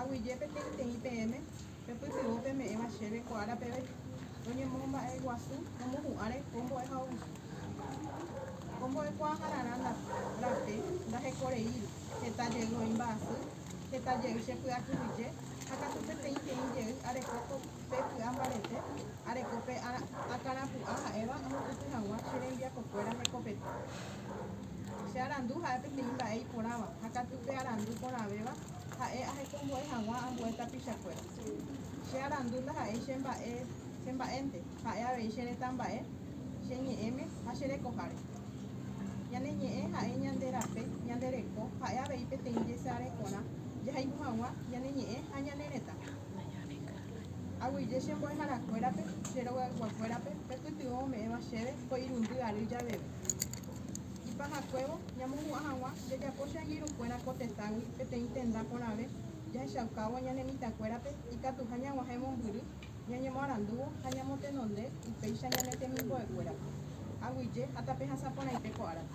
Aguyje peteĩteĩ peẽme pepytyvõ peme'ẽva chéve ko ára peve roñemomba'eguasu romohu'ãre ko mbo'ehaovisu. Ko mbo'ekuaahararã rape ndahekoreíri heta jey voi mba'asy, heta jey che py'akyhyje ha katu peteĩteĩ jey areko ko pe ky'a mbarete, areko pe akãrapu'a ha'éva amopyty hag̃ua che rembiapokuéra hekopete. Che arandu ha'e peteĩ mba'e iporãva ha katu pe arandu porãvéva ha'e ahekombo'e hag̃ua ambue tapichakuéra. Che arandu ndaha'éi che mba'e che mba'énte, ha'e avei che retãmba'e che ñe'ẽme ha che rekoháre. Ñane ñe'ẽ ha'e ñande rape, ñande reko ha'e avei peteĩ jesarekorã jahayhu hag̃ua ñane ñe'ẽ ha ñane retã. Aguyje che mbo'eharakuérape, che rogaygua kuérape, pe pytyvõ ome'ẽva chéve ko irundy ary javeve. Ipahakuévo, ñamohu'ã hag̃ua jajapo che angirũkuéra ko tetãgui peteĩ tenda porãve jahechaukávo ñane mitãkuérape ikatuha ñag̃uahẽ mombyry ñañemoarandúvo ha ñamotenonde upéicha ñane temimbo'ekuérape, aguyje ha tape hasã porãite ko árape.